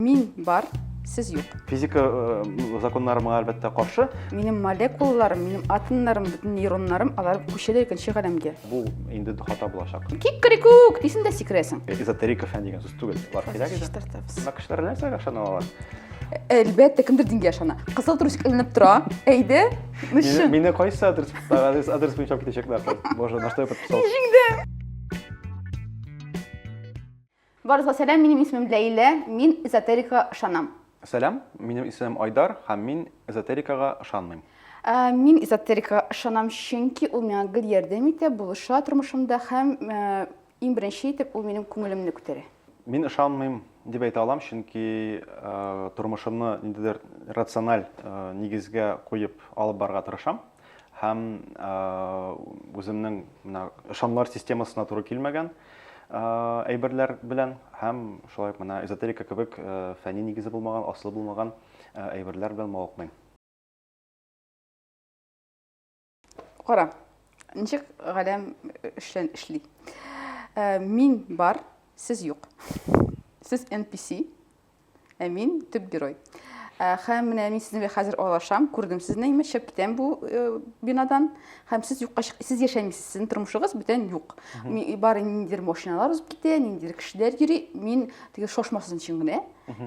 Мин бар, сез юк. Физика э, законнары моңа әлбәттә каршы. Минем молекулаларым, минем атомнарым, бөтен нейроннарым алар күчәләр икенче галәмгә. Бу инде хата булачак. Кикрикук дисең дә сикерәсең. Э, эзотерика фән дигән сүз түгел. Алар кирәк иде. Чистартабыз. Мына кешеләр нәрсәгә ышана алар? Әлбәттә, кемдер дингә ышана. Кызыл трусик эленеп тора. Әйде. Нышы. Мине кайсы адрес адрес адрес буенча китәчәкләр? Боже, на что я подписался? Җиңде. Барыгызга сәлам, минем исемем Ләйлә, мин эзотерикага ышанам. Сәлам, минем исемем Айдар һәм мин эзотерикага ышанмыйм. Ә, мин эзотерикага ышанам, чөнки ул миңа гел ярдәм итә, булыша тормышымда һәм ә, иң беренче итеп ул минем күңелемне күтәрә. Мин ышанмыйм дип әйтә алам, чөнки э, тормышымны ниндидер рациональ э, нигезгә куеп алып барырга тырышам. һәм үземнең менә ышанмалар системасына туры килмәгән әйберләр белән һәм шулай ук менә эзотерика кебек фәнни нигезе булмаган, асылы булмаган әйберләр белән мавыкмыйм. Кара, ничек галәм эшлән эшли. Мин бар, сез юк. Сез NPC, Ә мин төп герой. Ә, хәм менә мин сезне хәзер алашам, күрдем сезне, имеш, чыгып китәм бу э, бинадан. Хәм сез юкка чык, сез яшәмисез, сезнең тормышыгыз бүтән юк. Ми- Бары ниндидер машиналар узып китә, ниндидер кешеләр йөри. Мин теге шошмасын өчен генә.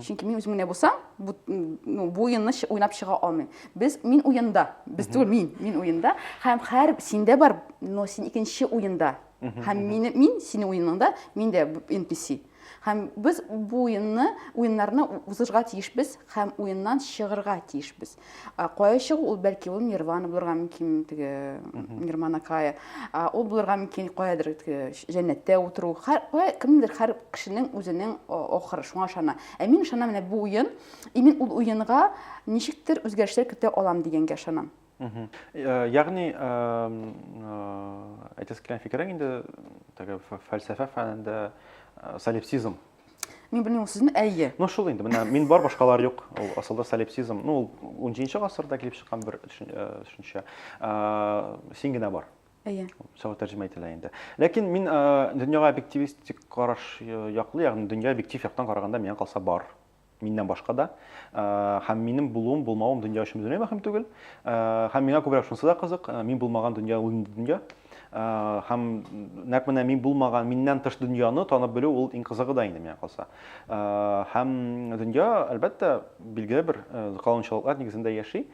Чөнки мин үзем генә булсам, бу, м, ну, бу уенны чы- уйнап чыга алмыйм. Без, мин уенда, без түгел, мин, мин уенда. Хәм хәр синдә бар, но син икенче уенда. Хәм мин, мин синең уеныңда, мин дә б- NPC. Һәм без бу уенны, уеннарны узышга тиешбез һәм уеннан чыгырга тиешбез. Кая чыгу ул бәлки ул Нирвана булырга мөмкин, теге Нирмана Кая. Ул булырга мөмкин каядыр җәннәттә утыру. Кая кемдер һәр кешенең үзенең ахыры шуңа ышана. Ә мин ышанам менә бу уен, и мин ул уенга ничектер үзгәрешләр көтә алам дигәнгә ышанам. Ягъни, әйтәсе килгән фикерең инде теге фәлсәфә фәнендә солипсизм. Мин белмим сүзне, әйе. Ну шул инде, менә мин бар, башкалар юк. Ул асылда солипсизм. Ну, ул 17 гасырда килеп чыккан бер төшенчә. Син генә бар. Әйе. Шулай тәрҗемә ителә инде. Ләкин мин дөньяга объективистик караш яклы, ягъни дөнья объектив яктан караганда миңа калса бар. миннән башка да. Һәм минем булуым, булмавым дөнья өчен бөтенләй мөһим түгел. Һәм миңа күбрәк шунысы да кызык, мин булмаган дөнья ул инде дөнья. Һәм нәкъ менә мин булмаган, миннән тыш дөньяны танып белү ул иң кызыгы да инде миңа калса. Һәм дөнья, әлбәттә, билгеле бер канунчалыклар нигезендә яши.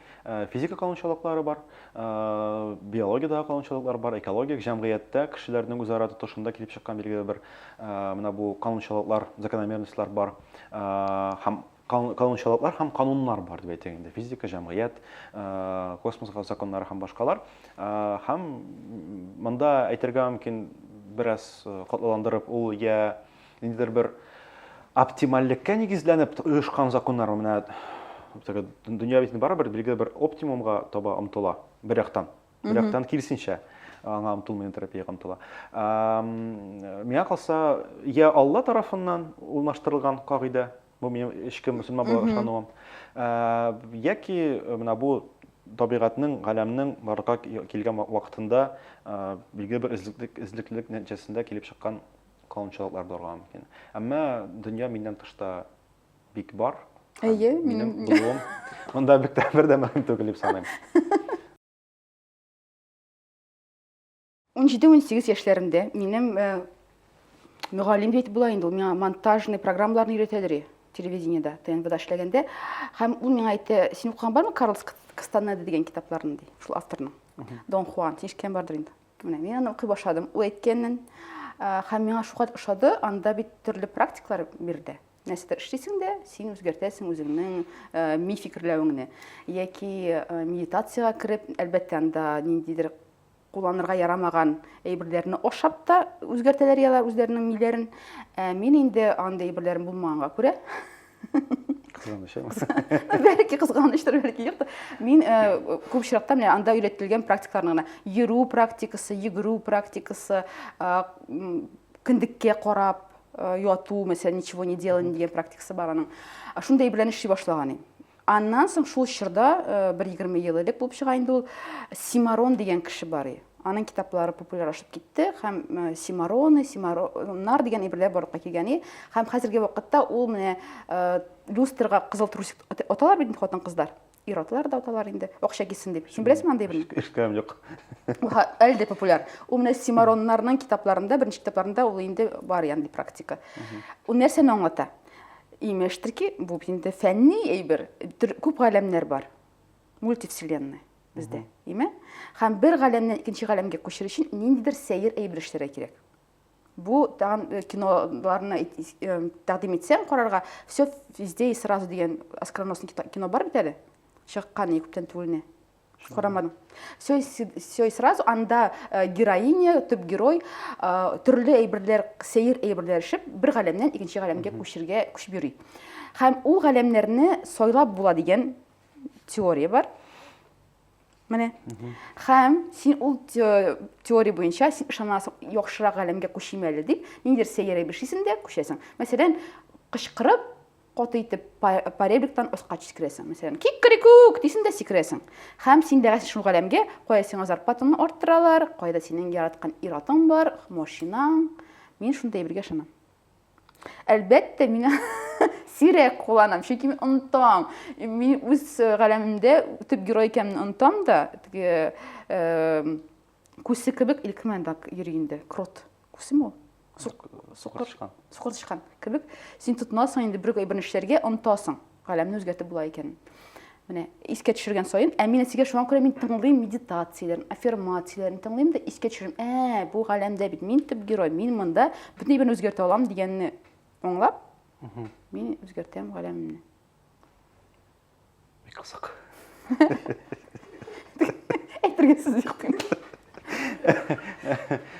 Физика канунчалыклары бар, биологиядә канунчалыклар бар, экологик җәмгыятьтә кешеләрнең үзара тотышында килеп чыккан билгеле бер менә бу канунчалыклар, закономерностьлар бар. һәм канунчалыклар һәм кануннар бар дип әйтик инде физика җәмгыять космос законнары һәм башкалар һәм монда әйтергә мөмкин бераз катлаландырып ул я ниндидер бер оптимальлеккә нигезләнеп оешкан законнар менә дөнья бит барыбер билгеле бер оптимумга таба омтыла бер яктан Бер яктан киресенчә аңа омтылмый, терапиягә омтыла. Миңа калса, я Алла тарафыннан урнаштырылган кагыйдә, бу минем эчке мөселман буларак ышануым, яки менә бу табигатьнең, галәмнең барырга килгән вакытында билгеле бер эзлеклелек нәтиҗәсендә килеп чыккан канунчалыклар булырга мөмкин. Әмма дөнья миннән тышта бик бар. Әйе, минем булуым. Монда бик тә бер дә мөһим түгел дип саныйм. 17-18 яшьләремдә минем э, мөгаллим дип була инде ул миңа монтажный программаларны өйрәтәләр телевидениедә тнвда эшләгәндә һәм ул миңа әйтте син укыган бармы карлс кастанеда дигән китапларны ди шул авторның дон хуан син ишеткән бардыр инде менә мин аны укый башладым ул әйткәнен һәм миңа шуңа ошады анда бит төрле практикалар бирде Нәрсәдер эшлисең дә, син үзгәртәсең үзеңнең э, ми фикерләвеңне. Яки э, медитациягә кереп, әлбәттә, анда ниндидер кулланырга ярамаган әйберләрне ашап та үзгәртәләр ялар үзләренең миләрен. Ә мин инде андый әйберләрем булмаганга күрә, Кызганыч булса. Бәлки кызганыштыр, бәлки юктыр. Мин э, күп очракта менә анда өйрәтелгән практикаларны гына йөрү практикасы, йөгерү практикасы, э, м, кендеккә карап, Э, яту мәсәлән ничего не делание дигән практикасы бар аның шундай белән эшли башлаган иде аннан соң шул чорда э, бер егерме ел элек булып чыга инде ул симарон дигән кеше бар иде аның китаплары популярлашып китте һәм э, симароны симароннар дигән әйберләр барлыкка килгән иде һәм хәзерге вакытта ул менә люстрга кызыл трусик оталар бит хатын кызлар Ир-атлар да аталар инде, акча китсен дип. Син беләсеңме андый берни? Эшкәм юк. Әле дә популяр. Ул менә Симароннарның китапларында, беренче китапларында ул инде бар янди практика. Ул нәрсәне аңлата? Имештер ки, бу инде фәнни әйбер, күп галәмнәр бар. Мультивселенная бездә, име? Һәм бер галәмнән икенче галәмгә күчер өчен ниндидер сәер әйбер эшләргә кирәк. Бу тагын э, киноларны э, тәкъдим итсәң карарга, все везде и сразу дигән оскароносный кино бар бит әле. Чыккан күптән түгелне. Карамадым. Все, все и сразу анда э, героиня, төп герой төрле әйберләр, сәер әйберләр эшеп, бер галәмнән икенче галәмгә күчергә күчеп йөри. Һәм ул галәмнәрне сайлап була дигән теория бар. Менә. Хәм, син ул теория буенча син ышанасың, яхшырак галәмгә күчим әле дип, ниндидер сәйрәй бер шисең дә күчәсең. Мәсәлән, кычкырып, каты итеп паребликтан аска сикерәсең. Мәсәлән, кик крикук дисең дә сикерәсең. Хәм син дәгәсең шул галәмгә, кая сиңа зарплатаны арттыралар, кайда синең яраткан ир-атың бар, машинаң. Мин шундый әйбергә ышанам. Әлбәттә, мин сирәк кулланам, чөнки мин онытам. Мин үз э, галәмемдә төп герой икәнен онытам да, теге э, күсе кебек илкмән да йөри инде, крот. Күсеме ул? Сукыр тычкан. Сукыр тычкан кебек. Син тотынасың инде бер бернәрсәләргә, онытасың. Галәмне үзгәртеп була икән. Менә искә төшергән саен, ә мин әтигә шуңа күрә мин тыңлыйм медитацияләрен, аффирмацияләрен тыңлыйм да искә төшерәм. Ә, бу галәмдә бит мин төп герой, мин монда бөтен әйберне үзгәртә алам дигәнне аңлап, мин үзгәртәм галәмне. Бик кызык. әйтергә сүз юк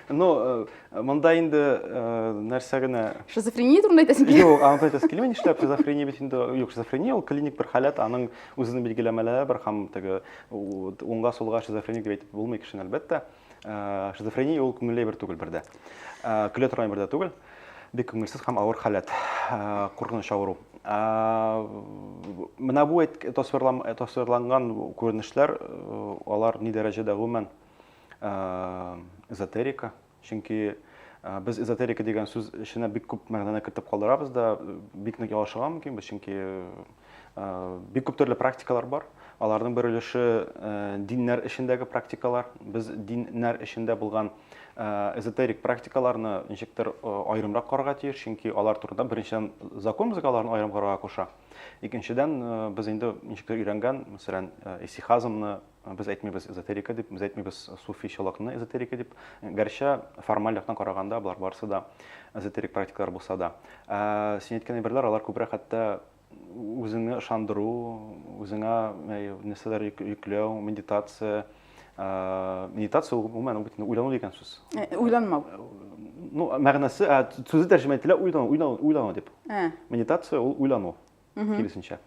но э, монда инде э, нәрсә генә шизофрения турында әйтәсең килә юк аны әйтәсе килми нишләп шизофрения бит инде юк шизофрения ул клиник бер халәт аның үзенең билгеләмәләре бар һәм теге уңга сулга шизофреник дип әйтеп булмый кешене әлбәттә Э, шизофрения ул күңелле бер түгел бердә э, көлә торган бер дә түгел бик күңелсез һәм авыр халәт э, куркыныч авыру менә бу тасвирланган күренешләр алар ни дәрәҗәдә гомумән эзотерика чөнки без эзотерика дигән сүз эченә бик күп мәгънәне кертеп калдырабыз да бик нык ялгышырга мөмкинбез чөнки Бик күп төрле практикалар бар. Аларның бер өлеше диннәр эчендәге практикалар. Без диннәр эчендә булган эзотерик практикаларны ничектер аерымрак карарга тиеш, чөнки алар турында беренчедән закон безгә аларны аерым карарга куша. Икенчедән, без инде ничектер өйрәнгән, мәсәлән, исихазмны Без әйтмибез эзотерика дип, без әйтмибез суфи чолакны эзотерика дип. Гәрчә формаль яктан караганда болар барысы да эзотерик практикалар булса да. Ә, син әйткән әйберләр алар күбрәк хәтта үзеңне ышандыру, үзеңә ә, нәрсәләр йөк- йөкләү, медитация. Ә, медитация ул гомумән ул бит инде уйлану дигән сүз. Ә, Уйланмау. Ну, мәгънәсе, ә, сүзе тәрҗемә ителә уйлану, уйлану, уйлану дип. Ә. Медитация ул уйлану. киресенчә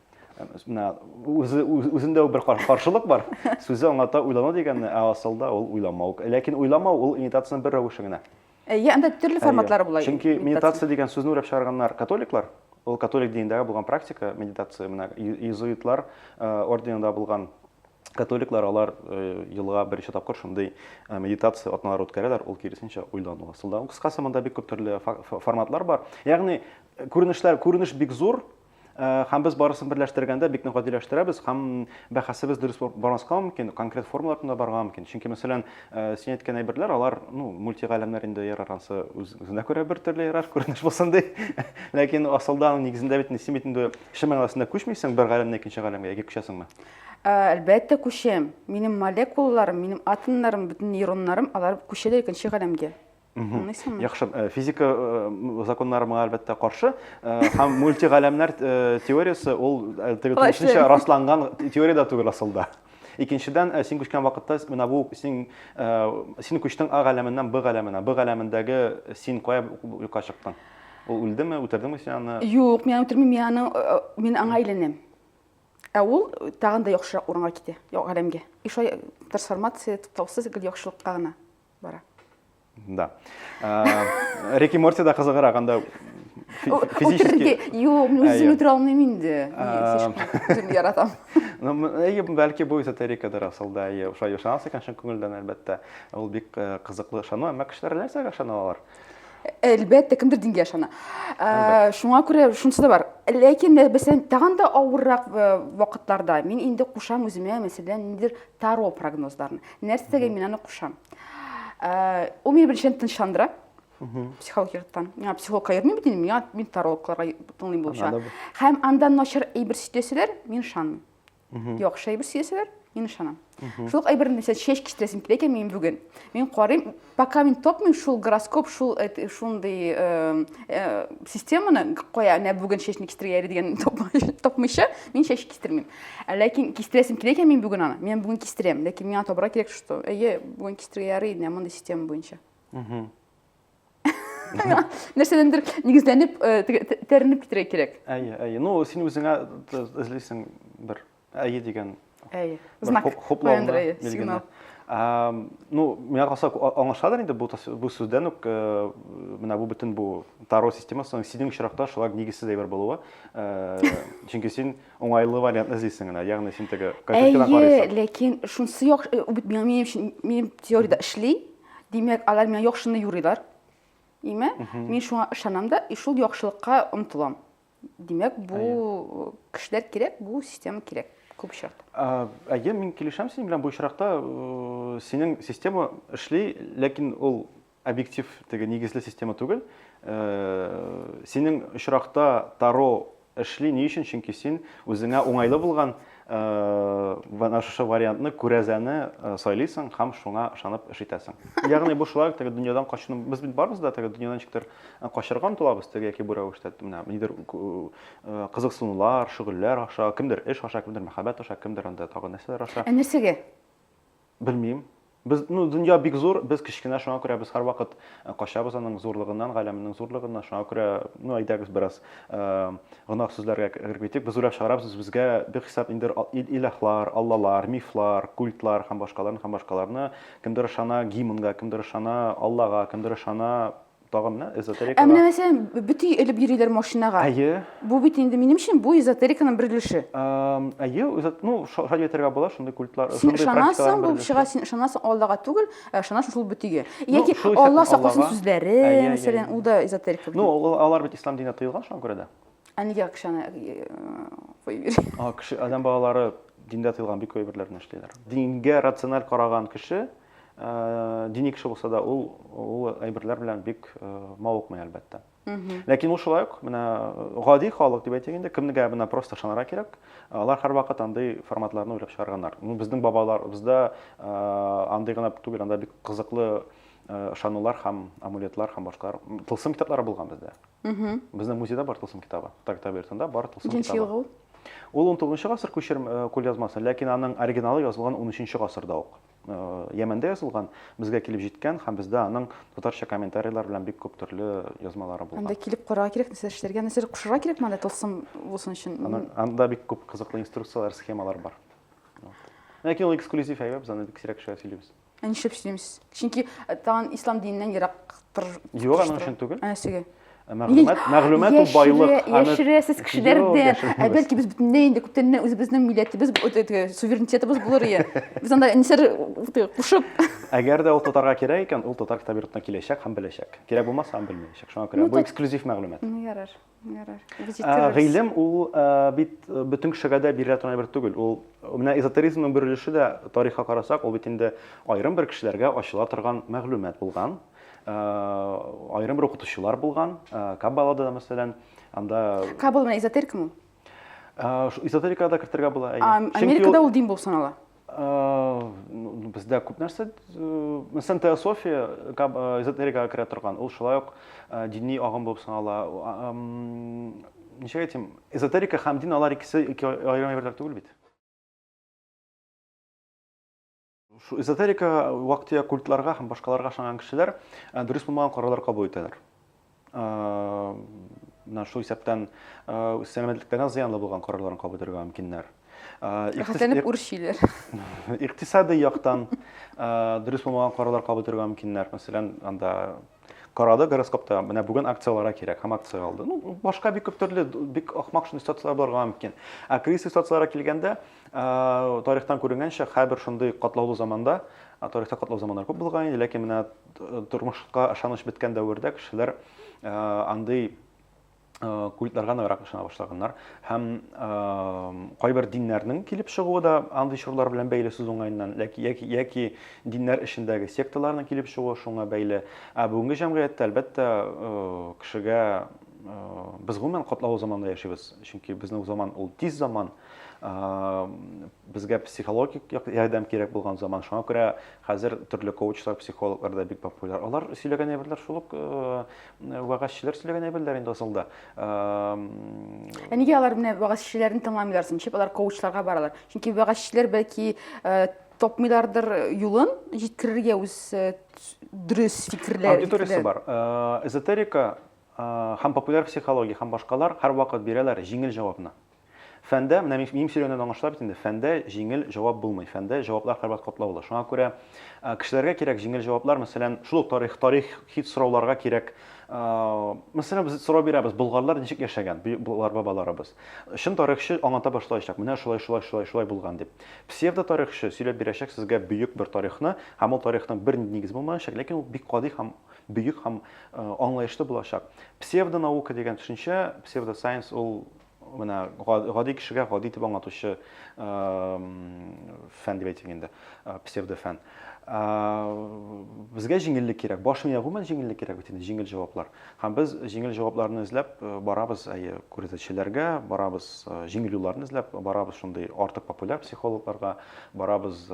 менә үзе үзендә бер каршылык бар сүзе аңлата уйлану дигәнне ә асылда ул уйламау ләкин уйламау ул имитациянең бер рәвеше генә иә анда төрле форматлары була чөнки медитация дигән сүзне уйлап чыгарганнар католиклар ул католик динендәге булган практика медитация менә иезуитлар орденында булган Католиклар алар елга беренче тапкыр шундый медитация атналар үткәрәләр, ул киресенчә уйлану асылда. Кыскасы монда бик күп төрле форматлар бар. Ягъни күренешләр, күренеш бик зур, һәм без барысын берләштергәндә бик нык гадиләштерәбез һәм бәхәсебез дөрес бармаска мөмкин, конкрет формалар турында барырга мөмкин. Чөнки, мәсәлән, син әйткән әйберләр, алар, ну, мультигаләмнәр инде ярар, ансы үзенә күрә бер төрле ярар, күренеш булсын ди. Ләкин асылда, нигезендә бит син бит инде кеше мәгънәсендә күчмисең бер галәмнән икенче галәмгә, яки күчәсеңме? Ә, әлбәттә, күчәм. Минем молекулаларым, минем атомнарым, бөтен нейроннарым, алар күчәләр икенче галәмгә. Аңлыйсыңмы? Яхшы, э, физика э, законнары моңа әлбәттә каршы. Э, һәм мультигаләмнәр э, теориясе ул э, теге Алай тулысынча эшләми. расланган теория дә түгел асылда. Икенчедән, э, син күчкән вакытта менә бу син э, син күчтең А галәменнән Б галәменә. Б галәмендәге син кая юкка чыктың? Ул үлдеме, үтердеңме син аны? Юк, мин аны үтермим, мин аны, э, мин аңа әйләнәм. Ә ул тагын да яхшырак урынга китә, галәмгә. И шулай трансформация туктаусыз гел яхшылыкка гына бара. Да. Рики Морти да кызыгырак, анда физически... Юк, мин үзем үтерә алмыйм инде. Үзем яратам. Ну, әйе, бәлки бу эзотерикадыр асылда, әйе, шулай ышанасы икән чын күңелдән, әлбәттә. Ул бик кызыклы ышану, әмма кешеләр нәрсәгә ышаналар? әлбәттә кемдер дингә ышана ә, шуңа күрә шунысы да бар ләкин мәсәлән тагын да авыррак вакытларда мин инде кушам үземә мәсәлән ниндидер таро прогнозларын нәрсәгә мин аны кушам ә, ул мине беренчедән тынычландыра психолог яктан миңа психологка йөрмим бит инде миңа мин тарологларга тыңлыйм булып чыга һәм анда начар әйбер сөйләсәләр мин ышанмыйм Яхшы әйбер сөясәләр, мин ышанам. Шул әйберне нәрсә чәч киштәсен килә икән мин бүген. Мин карыйм, пока мин тапмыйм шул гороскоп, шул шундый э, э, системаны кая менә бүген чәчне кистергәли дигән тапмыйча, мин чәч кистермим. Ә ләкин кистерәсем килә икән мин бүген аны. Мин бүген кистерәм, ләкин миңа табра кирәк, что әйе, бүген кистергә ярый, менә мондый система буенча. нәрсәдәндер нигезләнеп тәренеп китерә кирәк әйе әйе ну син үзеңә эзлисең бер әйе дигән әйе знак хуплауны билгене ну миңа калса аңлашыладыр инде бу бу сүздән үк менә бу бөтен бу таро системасының синең очракта шулай нигезсез әйбер булуы чөнки син уңайлы вариантны эзлисең генә ягъни син теге әйе ләкин шунысы яхшы минем минем теориядә эшли Димәк, алар миңа яхшыны юрыйлар. Име? Мин шуңа ышанам да, и шул яхшылыкка омтылам. Димәк, бу кешеләр кирәк, бу система кирәк күп очракта. Ә, әйе, мин килешәм синең белән бу очракта. Э, синең система эшли, ләкин ул объектив теге нигезле система түгел. Э, синең очракта Таро Эшли, ни өчен? Чөнки син үзеңә уңайлы булган менә шушы вариантны, күрәзәне сайлыйсың һәм шуңа ышанып эш итәсең. Ягъни бу шулай ук теге дөньядан качуны, без бит барыбыз да теге дөньядан ничектер качарга омтылабыз, теге яки бу рәвештә, менә нидер кызыксынулар, шөгыльләр аша, кемдер эш аша, кемдер мәхәббәт аша, кемдер анда тагы нәрсәләр аша. Ә нәрсәгә? Белмим. Без, ну, дөнья бик зур, без кечкенә, шуңа күрә без һәрвакыт э, качабыз аның зурлыгыннан, галәменең зурлыгыннан. Шуңа күрә, ну, әйдәгез бераз э, гөнаһ сүзләргә кереп китик. Без уйлап чыгарабыз үзебезгә бихисап инде илаһлар, аллалар, мифлар, культлар һәм башкаларны һәм башкаларны. Кемдер ышана гимнга, кемдер ышана Аллага, кемдер ышана Тагын менә эзотерика. Ә менә мәсәлән, бөти элеп йөриләр машинага. Әйе. Бу бит инде минем өчен бу эзотериканың бер өлеше. Әйе, үзәт, ну, шулай әйтергә була, шундый культлар, шундый практикалар. Син булып чыга, син ышанасың Аллага түгел, ә ышанасың шул бөтигә. Ну, Яки Алла сакласын сүзләре, мәсәлән, ул да эзотерика. Ну, алар бит ислам диненә тыелган шуңа күрә дә. Ә нигә кешене э, куеп йөри? А, кеше, адәм балалары диндә тыелган бик күп әйберләрне эшлиләр. Дингә рациональ караган кеше дини кеше булса да ул ул әйберләр белән бик мавыкмый әлбәттә ләкин ул шулай ук менә гади халык дип әйтик инде кемгә менә просто ышанырга кирәк алар һәрвакыт андый форматларны уйлап чыгарганнар ну безнең бабаларыбызда андый гына түгел анда бик кызыклы ышанулар һәм амулетлар һәм башкалар тылсым китаплары булган бездә безнең музейда бар тылсым китабы тагта бертында бар тылсым китабы ел ул ул он тоғызынчы гасыр күчерм кулъязмасы ләкин аның оригиналы язылган он өченче гасырда ук Йәмәндә язылган, безгә килеп җиткән һәм бездә аның татарча комментарийлар белән бик күп төрле язмалары булган. Анда килеп карарга кирәк, нәрсә эшләргә, нәрсә кушырга кирәк монда тылсым булсын өчен. Анда бик күп кызыклы инструкцияләр, схемалар бар. Ләкин ул эксклюзив әйбә, без аны бик сирәк кешегә сөйлибез. Ә нишләп сөйлимсез? Чөнки тагын ислам диненнән ерактыр. Юк, аның өчен түгел. Ә нәрсәгә? Ә мәгълүмат, мәгълүмат ул байлык. Яшерәсез кешеләрдән. Ә бәлки без бөтенләй инде күптәннән үзебезнең милләтебез, суверенитетыбыз булыр ие. Без анда нисәр кушып. Әгәр дә ул татарга кирәк икән, ул татар китап йортына киләчәк һәм беләчәк. Кирәк булмаса һәм белмәячәк. Шуңа күрә бу эксклюзив мәгълүмат. Ярар, ярар. Гыйлем ул бит бөтен кешегә дә бирелә торган әйбер түгел. Ул менә эзотеризмның бер өлеше дә тарихка карасак, ул бит инде аерым бер кешеләргә ачыла торган мәгълүмат булган. Айрым бер укытучылар булган, Каббалада да, мәсәлән, анда... Каббала менә эзотерика ме? Эзотерикада кертергә була. Америкада ул дин булып санала. Бездә күп нәрсә, мәсәлән, теософия эзотерикага керә торган, ул шулай ук дини агым булып санала. Ничек әйтим, эзотерика һәм дин алар икесе ике аерым әйберләр түгел бит. Шул эзотерикага, вак-төяк культларга һәм башкаларга ышанган кешеләр дөрес булмаган карарлар кабул итәләр. Менә шул исәптән сәламәтлекләренә зыянлы булган карарларын кабул итәргә мөмкиннәр. Рәхәтләнеп үрчиләр. Икътисади яктан дөрес булмаган карарлар кабул итәргә мөмкиннәр. Мәсәлән, анда карады гороскопта, менә бүген акцияләргә кирәк һәм акция алды. Ну, башка бик күп төрле, бик ахмак шундый ситуацияләр булырга мөмкин. Ә кризис ситуацияләргә килгәндә, Тарихтан күренгәнчә, һәрбер шундый катлаулы заманда, тарихта катлаулы заманнар күп булган инде, ләкин менә тормышка ышаныч беткән дәвердә кешеләр андый культларга ныграк ышана башлаганнар. Һәм кайбер диннәрнең килеп чыгуы да андый чорлар белән бәйле сүз уңаеннан, ләки яки яки диннәр эчендәге секталарның килеп чыгуы шуңа бәйле. Ә бүгенге җәмгыятьтә, әлбәттә, кешегә без гомумән катлаулы заманда яшибез, чөнки безнең заман ул тиз заман, Безгә психологик ярдәм кирәк булган заман. Шуңа күрә хәзер төрле коучлар, психологлар да бик популяр. Алар сөйләгән әйберләр шул ук вәгазьчеләр сөйләгән әйберләр инде асылда. Ә нигә алар менә вәгазьчеләрне тыңламыйлар соң? Ничек алар коучларга баралар? Чөнки вәгазьчеләр бәлки тапмыйлардыр юлын җиткерергә үз дөрес фикерләр. Аудиториясе бар. Эзотерика һәм популяр психология һәм башкалар һәрвакыт бирәләр җиңел җавапны. Фәндә, менә мин минем сөйләгәннән аңлашыла бит инде, фәндә җиңел җавап булмый, фәндә җаваплар кабат катлаулы. Шуңа күрә кешеләргә кирәк җиңел җаваплар, мәсәлән, шул ук тарих, тарих хит сорауларга кирәк, мәсәлән, без сорау бирәбез, болгарлар ничек яшәгән, болгар бабаларыбыз. Чын тарихчы аңлата башлаячак, менә шулай, шулай, шулай, шулай булган дип. Псевдо тарихчы сөйләп бирәчәк сезгә бөек бер тарихны, һәм ул тарихның бернинди нигезе булмаячак, ләкин ул бик гади һәм бөек һәм аңлаешлы булачак. Псевдо наука дигән төшенчә, псевдо сайенс ул менә гади кешегә гади итеп аңлатучы фән дип әйтик инде, псевдофән. Безгә җиңеллек кирәк. Баш мия гомумән җиңеллек кирәк бит инде, җиңел җаваплар. Һәм без җиңел җавапларны эзләп барабыз, әйе, күрсәтүчеләргә, барабыз җиңел юлларны эзләп, барабыз шундый артык популяр психологларга, барабыз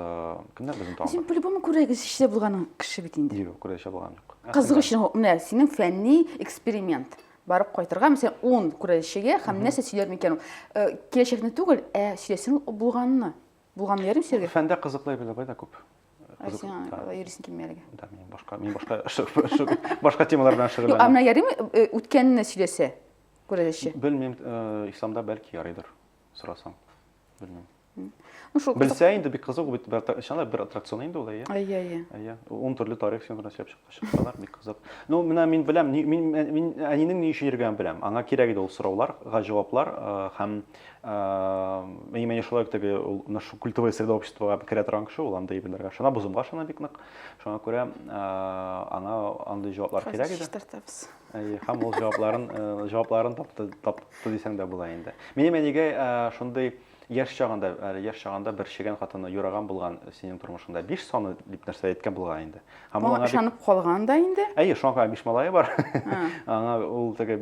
кемнәр безне тагын? Син по-любому күрәгез эчтә булган кеше бит инде. Юк, күрәгез булган юк. Кызык өчен, менә синең фәнни эксперимент. барып кайтырга мәсәлән ун күрәлешчегә һәм нәрсә сөйләр микән ул э, киләчәкне түгел ә сөйләсен ул булганны булганны ярым сөйләргә фәндә кызыклы әйберләр бар да күп Ә Кызык- сиңа да, алай йөрисең килми әлегә да мин башка мин башка ш- ш- башка темалар белән Юк, ә шөгыльләнәм менә ярыймы э, үткәнне сөйләсә күрәлешче белмим э, исламда бәлки ярыйдыр сорасаң белмим Ну, шул Белсә инде бик кызык бит, бер аттракцион, бер аттракцион инде ул, әйе. Әйе, әйе. Әйе. Ун төрле тарих син гына сөйләп чыкканлар, бик кызык. Ну, менә мин беләм, мин мин әнинең ни өчен йөргәнен беләм. Аңа кирәк иде ул сораулар, җаваплар һәм әйе, менә шулай теге ул нашу культовое среда обществога керә торган кеше ул андый әйберләргә шуна бозымга шуна бик нык. Шуңа күрә аңа андый җаваплар кирәк иде. Хәзер Әйе, һәм ул җавапларын җавапларын тапты, тапты дисәң дә була инде. Минем әнигә шундый Яшь чагында, әле яшь чагында бер чегән хатыны юраган булган синең тормышыңда. Биш саны дип нәрсә әйткән булган инде. Һәм ул аңа ышанып бик... калган да инде? Әйе, шуңа күрә биш малае бар. аңа ул теге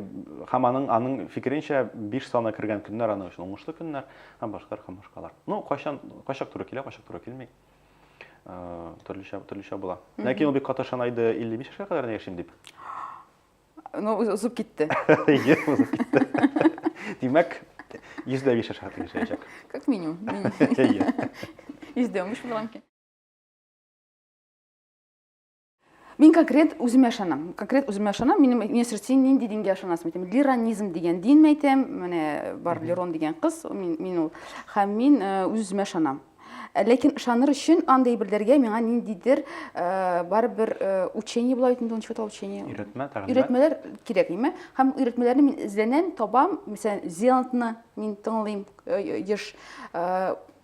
һәм аның аның фикеренчә биш саны кергән көннәр аның өчен уңышлы көннәр һәм башкалар һәм башкалар. Ну, кайчан кайчак туры килә, кайчак туры килми. Э, төрлечә төрлечә була. Ләкин ул бик каты ышана иде 55 яшькә кадәр яшим дип. Ну, узып китте. Ие, узып китте. Димәк, йөздә биш аша тиешәчәк. Как минимум. Йөздә унбиш булган икән. Мин конкрет үземә ышанам. Конкрет үземә ышанам. Минем мин син нинди дингә ышанасың әйтәм. Лиранизм дигән дин әйтәм. Менә бар Лирон дигән кыз, мин мин ул. Һәм мин э, үземә ышанам. Э, ләкин ышаныр өчен андый белдергә миңа ниндидер э, барыбер э, учение була бит инде ничек атала учение өйрәтмә тәгълимат өйрәтмәләр кирәк име һәм өйрәтмәләрне мин эзләнәм табам мәсәлән зеландны мин тыңлыйм еш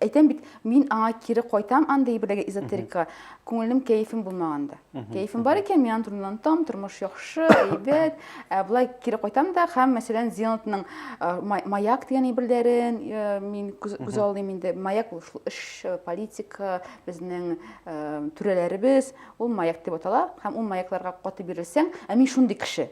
әйтәм бит мин аңа кире кайтам андый бер эзотерикага күңелем кәефем булмаганда Кәефем бар икән, мин аны турыннан там, тормыш яхшы, әйбәт. Ә болай кире кайтам да, һәм мәсәлән, Зенотның маяк дигән әйберләрен мин күз алдым инде. Маяк ул шул эш, политика, безнең түрәләребез, ул маяк дип атала, һәм ул маякларга каты бирелсәң, ә мин шундый кеше.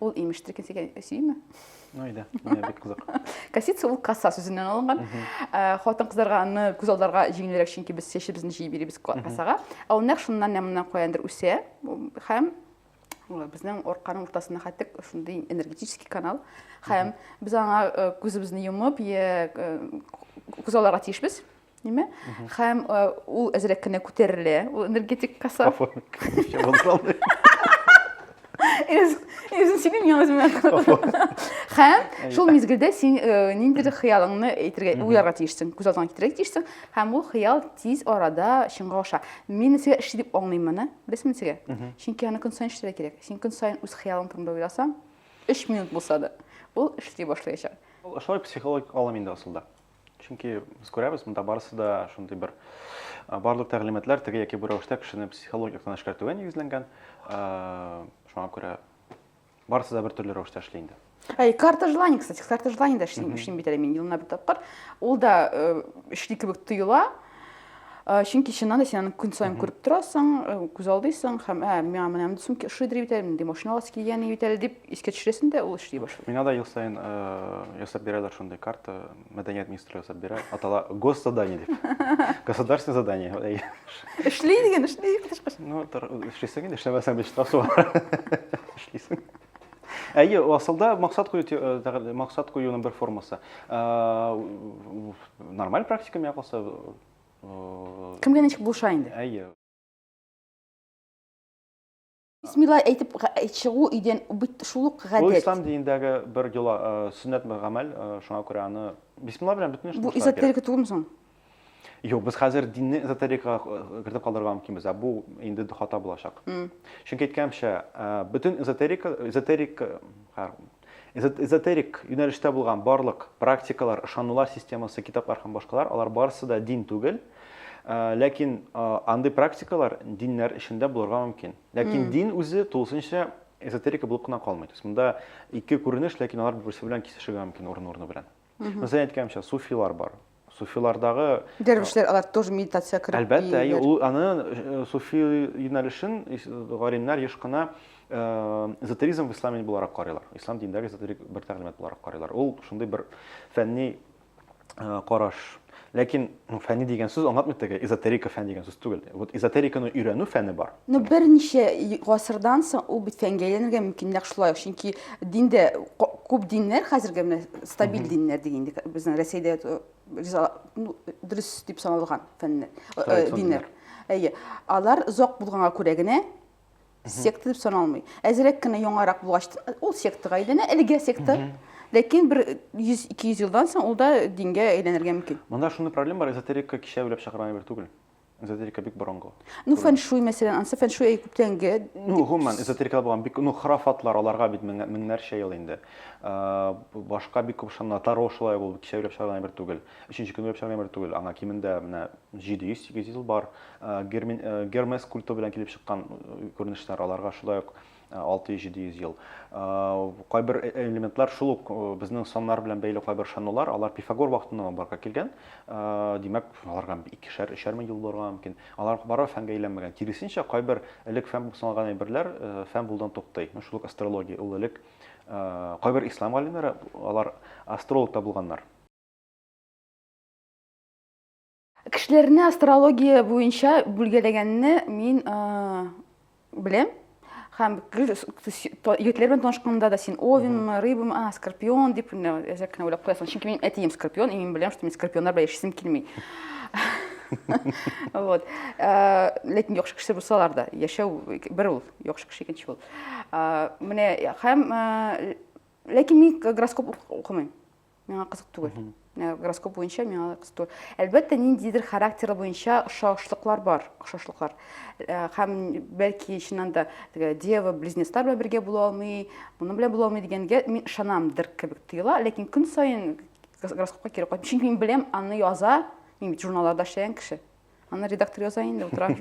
ул имештер икән дигән сөйме әйдә менә бик кызык косица ул коса сүзеннән алынган э, хатын кызларга аны күз алдарга җиңелрәк чөнки без чәчебезне җыеп бирибез косага ә ул нәкъ шуннан нәм моннан каяндыр үсә һәм э, безнең арканың уртасына хәтта шундый энергетический канал һәм без аңа э, күзебезне йомып күз аларга тиешбез Неме? Хәм э, ул әзрәк кенә күтәрелә, ул энергетик каса. Үзен синең яңыз менә. Хәм шул мизгелдә син э, нинди дә хыялыңны әйтергә, уйларга тиешсең, күз алдыңа китерергә тиешсең, хәм ул хыял тиз арада чынга аша. Мин сезгә эш дип аңлыйм моны, беләсезме сезгә? Чөнки аны көн сайын эшләргә кирәк. Син көн сайын үз хыялың турында уйласаң, 3 минут булса да, ул эшли башлаячак. Шулай психологик алым инде асылда. Чөнки без күрәбез, монда барысы да шундый бер барлык тәгълиматлар теге яки бу рәвештә кешене психологик яктан эшкәртүгә нигезләнгән. Шуңа күрә барысы да бер төрле рәвештә эшли инде. Әй, карта желаний, кстати, карта желаний да эшлим, эшлим бит әле мин елына бер тапкыр. Ул да эшли кебек тоела. Э, чөнки чыннан да син аны көн саен күреп торасың э, күз алдыйсың һәм ә миңа менә мондый сумка ошыйдыр бит әле мондый машина аласы килгән бит әле дип искә төшерәсең дә ул эшли башлый миңа да ел саен э, ясап бирәләр шундый карта мәдәният министры ясап бирә атала госзадание дип государственное задание эшли дигән эшли ну эшлисең инде эшләмәсәң бит штраф эшлисең әйе асылда максат кую максат куюның бер формасы Нормаль практика миңа калса. Кемгә ничек булыша инде? Әйе. Бисмилла әйтеп чыгу өйдән бит шул ук гадәт. Бу ислам динендәге бер йола, сөннәт бер гамәл, шуңа күрә аны бисмилла белән бөтен эшне Бу эзотерика түгелме соң? Юк, без хәзер динне эзотерикага кертеп калдырырга мөмкинбез, ә бу инде хата булачак. Чөнки әйткәнемчә, бөтен эзотерика, эзотерик, Эзотерик юнәлештә булган барлык практикалар, ышанулар системасы, китаплар һәм башкалар, алар барысы да дин түгел. Ләкин андый практикалар диннәр эчендә булырга мөмкин. Ләкин дин үзе тулысынча эзотерика булып кына калмый. То есть монда ике күренеш, ләкин алар берсе белән кисешергә мөмкин урын-урыны белән. Мхм. Мисал әйткәнемчә, суфилар бар. Суфилардагы Дәрвишләр алар тоже медитация кереп Әлбәттә, әйе, ул аны э, суфи юнәлешен ис- галимнәр еш кына э, эзотеризм в исламе буларак карыйлар. Ислам динендәге эзотерик бер тәгълимат буларак карыйлар. Ул шундый бер фәнни э, караш. Ләкин ну, фәни дигән сүз аңлатмый теге эзотерика фән дигән сүз түгел. Вот эзотериканы өйрәнү фәне бар. Ну, берничә гасырдан соң ул бит фәнгә әйләнергә мөмкинлек шулай ук, чөнки диндә күп диннәр хәзерге менә стабиль диннәр дигән безнең Рәсәйдә э, ну, дөрес дип саналган фәннәр, э, э, диннәр. Әйе. Алар озак булганга күрә генә Секта дип саналмый. Әзерәк кенә яңарак булгач, ул сектага әйләнә, әлегә секта. Ләкин бер 100-200 елдан соң ул да дингә әйләнергә мөмкин. Монда шундый проблема бар, эзотерика кичә уйлап чыгарган әйбер түгел. Эзотерика бик борынгы. Ну, фэншуй, мәсәлән, ансы фэншуй әй күптәнге. Ну, гомумән, эзотерикада булган бик, ну, храфатлар, аларга бит меңнәрчә ел инде. Башка бик күп шанна, таро шулай булды, кичә уйлап чыгарган әйбер түгел. Өченче көн уйлап чыгарган бер түгел, аңа кимендә менә 700-800 ел бар. Гермес культы белән килеп чыккан күренешләр, аларга шулай ук 600-700 ел. Кайбер э, элементлар шул ук безнең саннар белән бәйле кайбер ышанулар, алар Пифагор вакытыннан барга килгән. Димәк, аларга икешәр, өчәр мең ел булырга мөмкин. Алар бары фәнгә әйләнмәгән. Киресенчә, кайбер элек фән булып саналган әйберләр фән булудан туктый. Шул ук астрология, ул элек кайбер ислам галимнәре алар астролог та булганнар. Кешеләрне астрология буенча бүлгәләгәнне мин беләм һәм егетләр белән танышканда да син овенмы рыбамы а скорпион дип әзрәк кенә уйлап куясың чөнки минем әтием скорпион и мин беләм что мин скорпионнар белән яшисем килми вот ләкин яхшы кеше булсалар да яшәү бер ул яхшы кеше икенче ул менә һәм ләкин мин гороскоп укымыйм миңа кызык түгел э, гороскоп буенча миңа кызык түгел әлбәттә ниндидер характер буенча ошашлыклар бар ошашлыклар э, һәм бәлки чыннан да теге дева близнецлар белән бергә була алмый моның белән була алмый дигәнгә мин ышанамдыр кебек тоела ләкин көн саен гороскопка кире кайтам чөнки мин беләм аны яза мин бит журналларда эшләгән кеше аны редактор яза инде утыра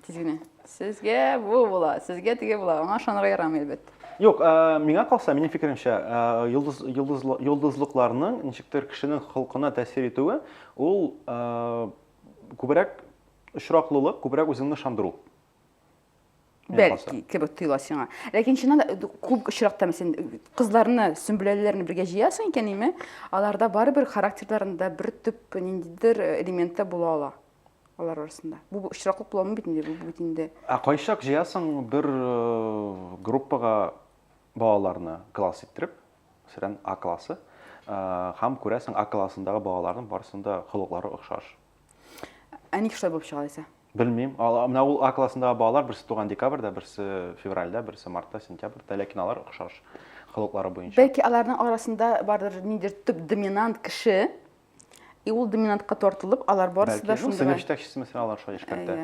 Тиз генә. Сезгә бу була, сезгә теге була. Аңа ышанырга ярамый, әлбәттә. Юк, ә, миңа калса, минем фикеремчә, ә, йолдыз, йолдыз, йолдызлыкларның ничектер кешенең холкына тәэсир итүе, ул ә, күбрәк очраклылык, күбрәк үзеңне ышандыру. Бәлки, кебек тоела сиңа. Ләкин чыннан да күп очракта син кызларны, сөмбеләләрне бергә җыясың икән, име? Аларда барыбер характерларында бер төп ниндидер элементы була ала. алар арасында. Бу очраклык буламы бит инде, бу бит инде. Ә кайчак җыясың бер э, группага балаларны класс иттереп, мәсәлән, А классы, э, һәм күрәсең А классындагы балаларның барысының да холыклары охшаш. Ә ник шулай булып чыга дисә? Белмим. Менә ул А классындагы балалар берсе туган декабрьдә, берсе февральдә, берсе мартта, сентябрьдә, ләкин алар охшаш холыклары буенча. Бәлки аларның арасында бардыр ниндидер төп доминант кеше, И ул доминантка тартылып, алар барысы да шундый. Сыйныф җитәкчесе мәсәлән алар шулай эшкәртә.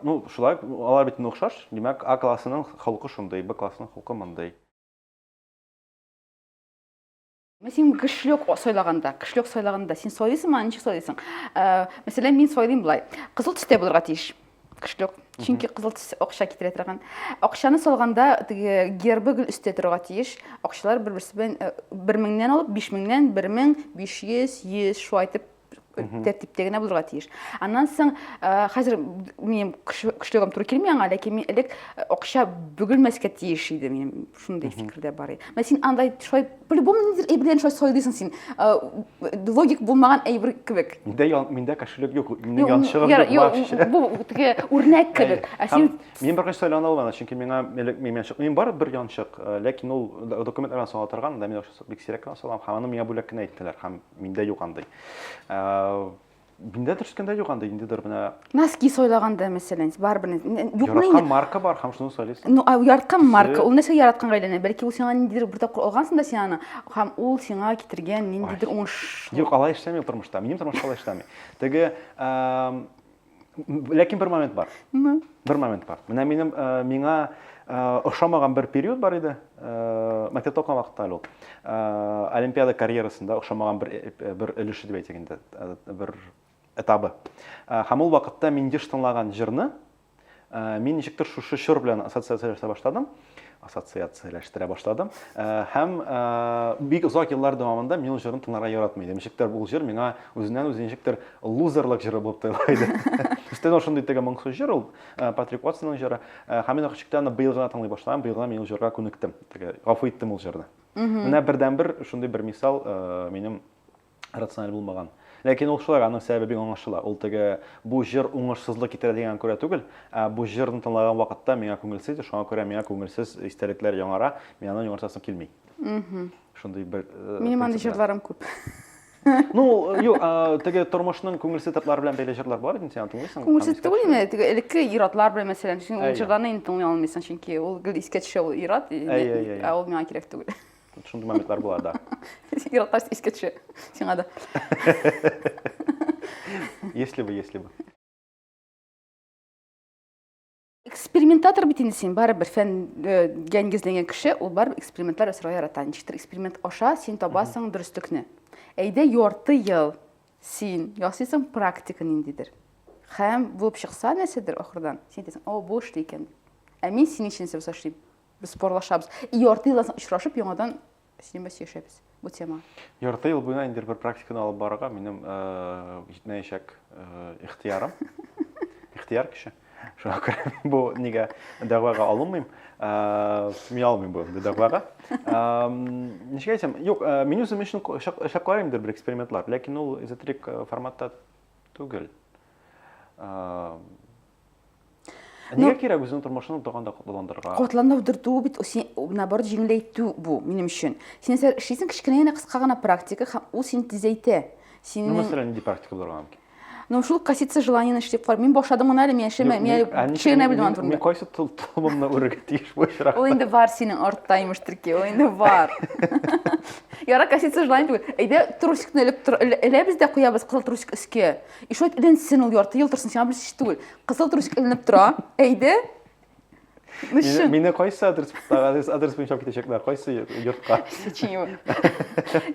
Ну, шулай, алар бит охшаш. Димәк, А классының холкы шундый, Б классының холкы мондый. Мен син көчлек сайлаганда, көчлек сайлаганда син сайлыйсыңмы, ничек сайлыйсың? Мәсәлән, мин сайлыйм болай. Кызыл төстә булырга тиеш. Кышлек. Чөнки кызыл төс акча китерә торган. Акчаны салганда теге гербы гел өстә торырга тиеш. Акчалар бер-берсе белән 1000-нән алып 5000-нән 1500, 100 шулай итеп тәртиптә генә булырга тиеш. Аннан соң хәзер минем кышлыгым туры килми аңа, ләкин мин элек акча бөгелмәскә тиеш иде минем Шундый фикердә бар иде. Менә син андай шулай по-любому ниндидер әйберләрне шулай сайлыйсың син. Логик булмаган әйбер кебек. Миндә миндә кешелек юк. Минем янчыгым юк. Юк, бу теге үрнәк кебек. Ә син Мин бер кайсы сайлана алмадым, чөнки миңа элек мин янчык. Мин бар бер янчык, ләкин ул документларга сала торган, да мин бик сирәк кенә салам. Һәм аны миңа бүләк кенә иттеләр, һәм миндә юк андый. Миндә төшкәндә юк анда ниндидер менә. Носки сойлаганда мәсәлән, барыбер юк Яраткан марка бар һәм шуны сойлыйсың. Ну, яраткан марка, ул нәрсә яратканга әйләнә. Бәлки ул сиңа ниндидер бер тапкыр алгансың да син аны, һәм ул сиңа китергән ниндидер уңыш. Юк, алай эшләми тормышта. Минем тормышта алай эшләми. Теге ләкин бер момент бар. Бер момент бар. Менә минем миңа ошамаган бер период бар иде. Мәктәптә укыган вакытта әле ул. Олимпиада карьерасында ошамаган бер бер өлеше дип әйтик инде, бер этабы. Һәм ул вакытта мин еш тыңлаган җырны мин ничектер шушы чор белән ассоциацияләштерә башладым. Ассоциацияләштерә башладым. Һәм бик озак еллар дәвамында мин ул җырны тыңларга яратмый идем. Ничектер бу җыр миңа үзеннән-үзе ничектер лузерлык җыры булып тоела иде. Өстәвенә шундый теге моңсу җыр ул, Э, Патрик Уотсонның җыры. Э, һәм мин ул чиктә аны быел гына тыңлый башлаган, быел гына мин ул җырга күнектем. Теге гафу иттем ул җырны. Менә бердәнбер шундый бер мисал э, минем рациональ булмаган. Ләкин ул шулай, аның сәбәбе бик аңлашыла. Ул теге бу җыр уңышсызлык китерә дигән күрә түгел, ә бу җырны тыңлаган вакытта миңа күңелсез, шуңа күрә миңа күңелсез истәлекләр яңара, мин аны яңартасым килми. Шундый бер э, Минем андый җырларым күп. Ну, юк, теге тормышның күңелсез татлары белән бәйле җырлар бар инде, син тыңлыйсың. Күңелсез түгел инде, теге элекке иратлар белән мәсәлән, син ул җырларны инде тыңлый алмыйсың, чөнки ул гел искә төшә ул ират, ә ул миңа кирәк түгел. Шундый моментлар була да. Иратлар искә төшә, сиңа да. Если бы, если бы. экспериментатор бит инде син барыбер фәнгә нигезләнгән кеше ул барыбер экспериментлар ясарга ярата ничектер эксперимент аша син табасың дөреслекне әйдә ярты ел син ясыйсың практика ниндидер һәм булып чыкса нәрсәдер ахырдан син әйтәсең о бу эшли икән ә мин синең өчен нәрсә эшлим без спорлашабыз и ярты елдан соң очрашып яңадан Синең белән сөйләшәбез бу тема. Ярты ел буена инде бер практиканы алып барырга минем җитмәячәк ихтиярым. Ихтияр кеше. Шуңа күрә бу нигә дәгъвага алынмыйм. Мин алмыйм бу дәгъвага. Ничек әйтсәм, юк, мин үзем өчен эшләп карыйм инде бер экспериментлар, ләкин ул эзотерик форматта түгел. Нигә ну, кирәк үзенең тормышын утырганда котландырырга? Котландыру бит син наоборот җиңеләйтү бу минем өчен. Син нәрсә эшлисең кечкенә генә кыска гына практика һәм ул син тизәйтә. Синең Ну, мәсәлән, нинди практика булырга мөмкин? Ну, шул коситься желаниене эшләп кар. Мин башладым гына әле, мин яшәмә, мин кечкенә белмәм турында. Мин кайсы тулымны үрергә тиеш бу очракта? Ул инде бар синең артта имеш төрки, ул инде бар. Яра коситься желание түгел. Әйдә трусикны элеп эләбез дә куябыз кызыл трусик өскә. И что это эленсен ул ярты ел торсын, сиңа белсез түгел. Кызыл трусик эленеп тора. Әйдә. Ну Мине, чын. мине кайсы адрес, адрес, адрес буенча алып китәчәкләр, кайсы йортка? Сеченье.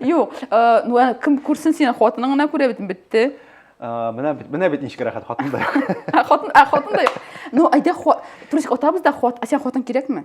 Юк, э, ну ә кем күрсен сине хатының гына күрә бит бетте. А, Менә бит- менә бит ничек рәхәт хатын да юк. Ә хатын, ә хатын да юк. Ну әйдә хат, трусик атабыз да хат, ә сиңа хатын кирәкме?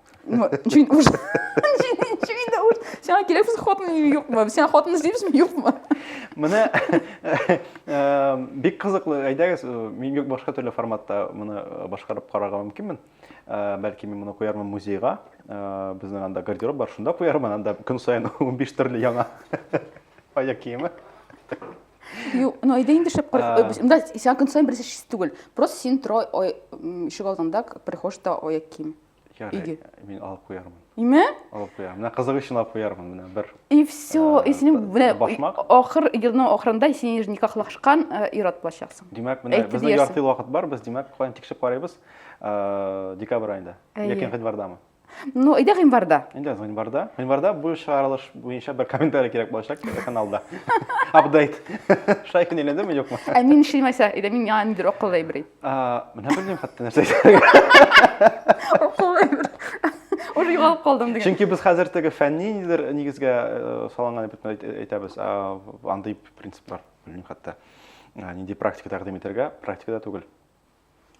Чөйн уш. Чөйн дә уш. Сиңа кирәк без хатын юкмы? Сиңа хатын эзлибезме, юкмы? Менә бик кызыклы. Әйдәгез, мин юк башка төрле форматта моны башкарып карарга мөмкинмен. Бәлки мин моны куярмын музейга. Безнең анда гардероб бар, шунда куярмын. Анда көн саен 15 төрле яңа аяк киеме. Юк, ну әйдә инде шәп карап. Монда сиңа көн саен берсе шист түгел. Просто син тора ишек алдында, прихожда аяк кием. Ярый, Иге. мин алып куярмын. Име? Алып куярмын. Менә кызык өчен алып куярмын менә бер. И все, и синең менә башмак. ахыр елның ахырында син ир никахлашкан ир-ат булачаксың. Димәк, менә Әйтте бездә диярсең. ярты ел вакыт бар, без димәк, каян тикшереп карыйбыз? Э, Декабрь аенда Әйе. яки гыйнвардамы? Ну, әйдә гыйнварда. Инде гыйнварда. Гыйнварда бу чыгарылыш буенча бер комментарий кирәк булачак каналда. Апдейт. Шай көн әйләндеме, юкмы? Ә мин эшләмәсә, әйдә мин яңа нидер акыллы әйбер әйт. Менә белмим хәтта нәрсә Уже югалып калдым диген. Чөнки без хәзер теге фәнни нидер нигезгә э, салынган дип әйтәбез. Андый принциплар белмим хәтта. Нинди практика тәкъдим итәргә, практикада түгел.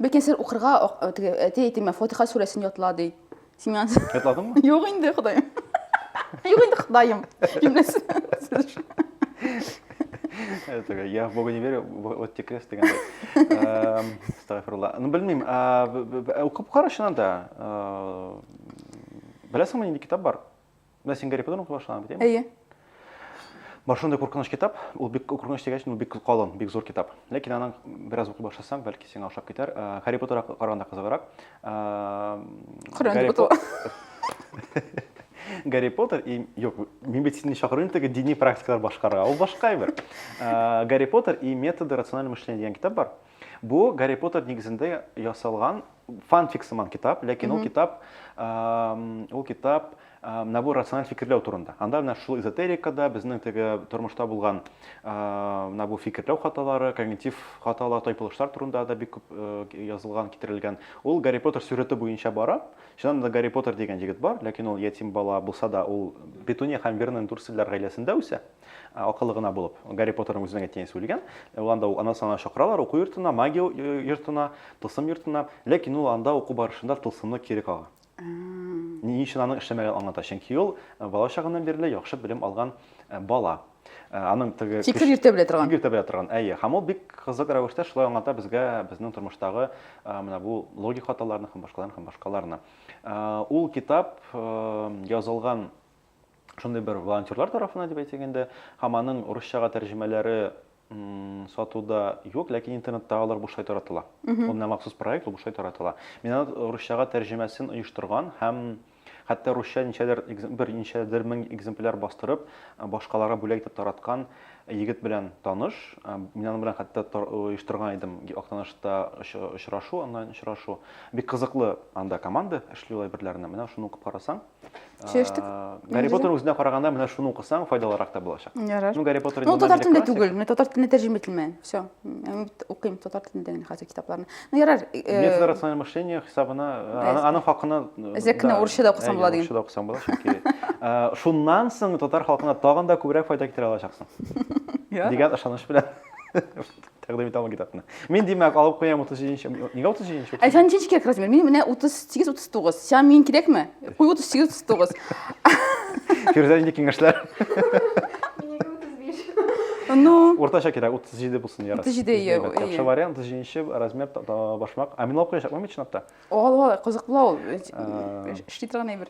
Бәлки сер укырга теге әти әйтеме Фатиха сүрәсен ятла ди. Син миңа Ятладыңмы? Юк инде, Ходаем. Юк инде, Ходаем. Җөмләсе. Этого, я в Бога не верю, вот тебе крест дегенде. Астагфирулла. Ну, белмим, укып кара чыннан да. Беләсеңме нинди китап бар? Менә син Гарри Поттерны укый башлаган бит, әйе? Әйе. Бар шундый куркыныч китап, ул бик куркыныч дигәч, ул бик калын, бик зур китап. Ләкин аның бераз укый башласаң, бәлки сиңа ошап китәр. Гарри Поттерга караганда кызыграк. Гарри Поттер. Гарри Поттер и юк, мин бит сине чакырыйм теге дини практикалар башкарга. Ул башка әйбер. Гарри Поттер и методы рационального мышления дигән китап бар. Бу Гарри Поттер нигезендә ясалган фанфик сыман китап, ләкин ул китап ул китап набор рациональ фикерләү турында. Анда менә шул эзотерикада безнең теге тормышта булган менә бу фикерләү хаталары, когнитив хаталар, тайпылышлар турында да бик күп язылган, китерелгән. Ул Гарри Поттер сюжеты буенча бара. Чыннан да Гарри Поттер дигән егет бар, ләкин ул ятим бала булса да, ул Петуния һәм Вернон Дурсельләр гаиләсендә үсә. Ә акыллы гына булып. Гарри Поттерның үзенең әйткән исеме үлгән. Ә ул анда ук ана сана чакыралар, уку йортына, магия йортына, тылсым йортына. Ләкин ул анда уку барышында тылсымны кире кага. Ни өчен аның эшләмәгән аңлата. Чөнки ул э, бала чагыннан бирле яхшы белем алган э, бала. Э, аның теге Тик бик иртә белә торган. Бик иртә белә торган. Әйе, һәм ул бик кызык рәвештә шулай аңлата безгә безнең тормыштагы э, менә бу логик хаталарны һәм башкаларны һәм башкаларны. Э, ул китап язылган шундый бер волонтерлар тарафына дип әйтик инде, һәм аның русчага тәрҗемәләре сатуда юк, ләкин интернетта алар бушлай таратыла. Ул менә махсус проект, ул бушлай таратыла. Мин аны русчага тәрҗемәсен оештырган һәм хәтта русча ничәдер бер ничәдер мең экземпляр бастырып, башкаларга бүләк итеп тараткан егет белән таныш. Мин аның белән хәтта оештырган идем Актанышта очрашу, онлайн очрашу. Бик кызыклы анда команда эшли ул әйберләрне. Менә шуны укып карасаң, сөйләштек гарри поттер үзенә караганда менә шуны укысаң файдалырак та булачак ярар ну гарри поттер ну татар телендә түгел менә татар теленә тәрҗемә ителмәгән все укыйм татар телендә генә хәзер китапларны ну ярар методы рациональное мышление хисабына аның хакына зәкне урысча да укысаң була диген урысча да укысаң була чөнки шуннан соң татар халкына тагын да күбрәк файда китерә алачаксың дигән ышаныч белән Тәкъдим итә алмый китапны. Мин димәк алып куям 37 нче. Нигә 37 нче? Ә сән ничек кирәк размер? Мин менә 38 39. Сиңа мин кирәкме? Куй 38 39. Фирүзә нинди киңәшләр? Минеке 35. Ну, Уртача кирәк 37 булсын ярас. 37, Без әйе, әйбәт. әйе. Яхшы вариант 37 нче размер та- та- башмак. Ә мин алып куячакмын бит чынлап та. ул ул кызык була ул. Э, Эш- Эшли торган әйбер.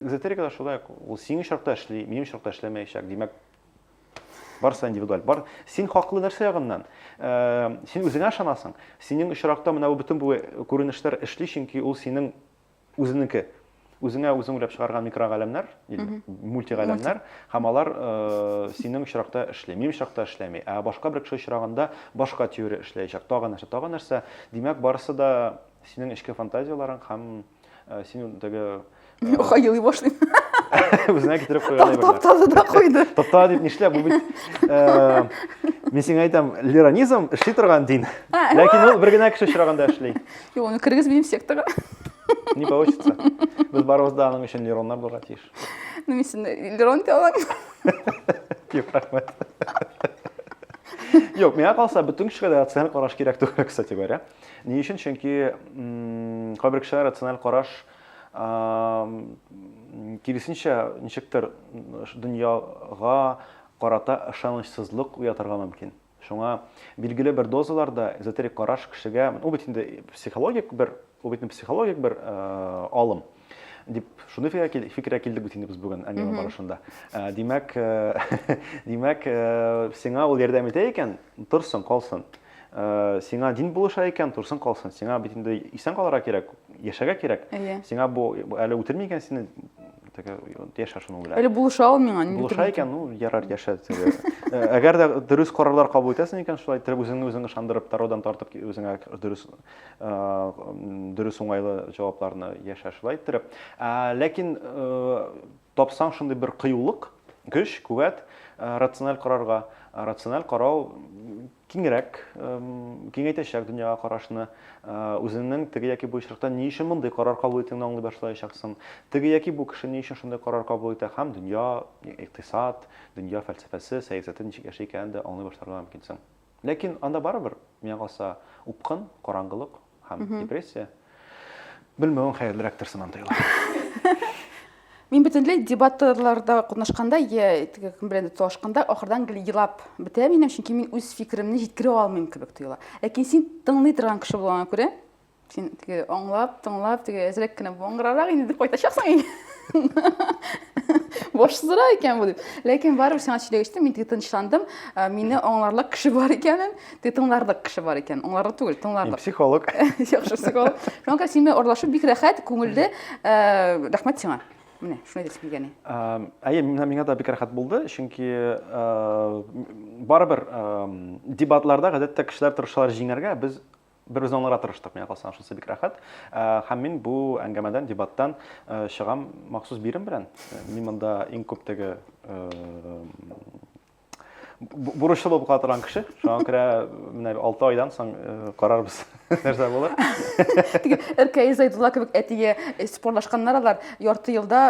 Эзотерика да шулай ук, ул синең очракта эшли, минем очракта эшләмәячәк. Димәк, барысы индивидуаль. Бар, син хаклы нәрсә ягыннан? Э, син үзеңә ышанасың. Синең очракта менә бу бөтен бу күренешләр эшли, чөнки ул синең үзенеке үзеңә үзең уйлап чыгарган микрогаләмнәр, мультигаләмнәр, һәм алар э, синең очракта эшли, минем очракта эшләми. Ә башка бер кеше очрагында башка теория эшләячәк. Тагын нәрсә, тагын нәрсә. Димәк, барысы да синең эчке фантазияләрең һәм Ә, син теге Оха елый башлый. Үзенә китереп куйган әйберләр. Таптады да куйды. Тапта дип нишлә бу бит э, мин сиңа әйтәм, лиронизм эшли торган дин. Ләкин ул бер генә кеше очраганда эшли. Юк, аны кергез минем секторга. Не получится. Без барыбыз да аның өчен лироннар булырга тиеш. Ну, мин сине лирон дия алам. Юк, рәхмәт. Юк, миңа калса, бөтен кешегә дә рациональ караш кирәк түгел, кстати говоря. Ни өчен? Чөнки кайбер кешеләр рациональ караш киресенчә ничектер дөньяга карата ышанычсызлык уятырга мөмкин. Шуңа билгеле бер дозаларда эзотерик караш кешегә, ул бит инде психологик бер, ул бит психологик бер алым. Дип, шуны фикергә килдек бит инде без бүген әңгәмә барышында. Димәк, димәк, сиңа ул ярдәм итә икән, торсын, калсын. Э, сиңа дин булыша икән, торсын калсын. Сиңа бит инде исән калырга кирәк, яшәгә кирәк. Иә. Сиңа бу әле үтерми икән сине, теге яшә шуның белән. Әле булыша ул миңа, ни Булыша икән, ну, ярар, яшә. Э, әгәр дә дөрес карарлар кабул итәсең икән, шулай итеп үзеңне үзең ышандырып, тародан тартып үзеңә дөрес Дөрес уңайлы җавапларны яшә шулай иттереп. Ләкин тапсаң шундый бер кыюлык, көч, куәт рациональ карарга, рациональ карау киңрәк, киңәйтәчәк дөньяга карашны, үзеңнең теге яки бу очракта ни өчен мондый карар кабул итүеңне аңлый башлаячаксың. Теге яки бу кеше ни өчен шундый карар кабул итә һәм дөнья, икътисад, дөнья фәлсәфәсе, сәясәте ничек яши икәнен дә аңлый башларга мөмкинсең. Ләкин анда барыбер, миңа калса, упкын, караңгылык һәм депрессия. Белмәвең хәерлерәктер сыман тоела. Мин бөтенләй дебатларда катнашканда я кем белән талашканда ахырдан гел елап бетә минем, чөнки мин үз фикеремне җиткерә алмыйм кебек тоела. Ләкин син тыңлый торган кеше булган күрә, Син теге аңлап, тыңлап, теге әзрәк кенә буңгырарак инде дип кайтачаксың инде. Башсызрак икән бу дип. Ләкин барыбер сиңа сөйләп эчтем, мин теге тынычландым. Ә, Мине аңларлык кеше бар икәнен, теге тыңларлык кеше бар икән. Аңларлык түгел, Мин тыңларлык. психолог. Яхшы психолог. Шуңа күрә син белән аралашу бик рәхәт, күңелле. Ә, Рәхмәт сиңа. Менә, шуны әйтәсем килгән иде. Ам, Әйе, миңа миңа да бик рәхәт булды, чөнки э, барыбер эм, дебатларда гадәттә кешеләр тырышалар җиңәргә, без Берүзне аңларга тырыштык, миңа калса шунысы бик рәхәт. Һәм мин бу әңгәмәдән, дебаттан чыгам махсус бирем белән. Мин монда иң күп теге бурычлы булып кала торган кеше. Шуңа күрә менә 6 айдан соң карарбыз, нәрсә булыр. Теге Эркәй Зайдулла кебек әтигә спорлашканнар алар. Ярты елда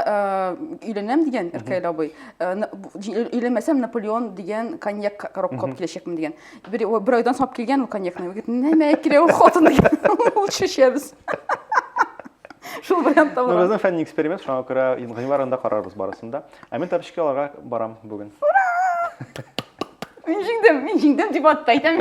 өйләнәм дигән Эркәй абый. Өйләнмәсәм Наполеон дигән коньяк коробка алып киләчәкмен дигән. Бер, бер айдан сап килгән ул коньякны. Егет, нәмә килә ул хатын дигән. Ул шешәбез. Шул вариантта бар. Безнең фәнни эксперимент, шуңа күрә гыйнвар анда карарбыз барысын да. Ә мин тапочки аларга барам бүген. Мин җиңдем, мин җиңдем дип атты әйтәм.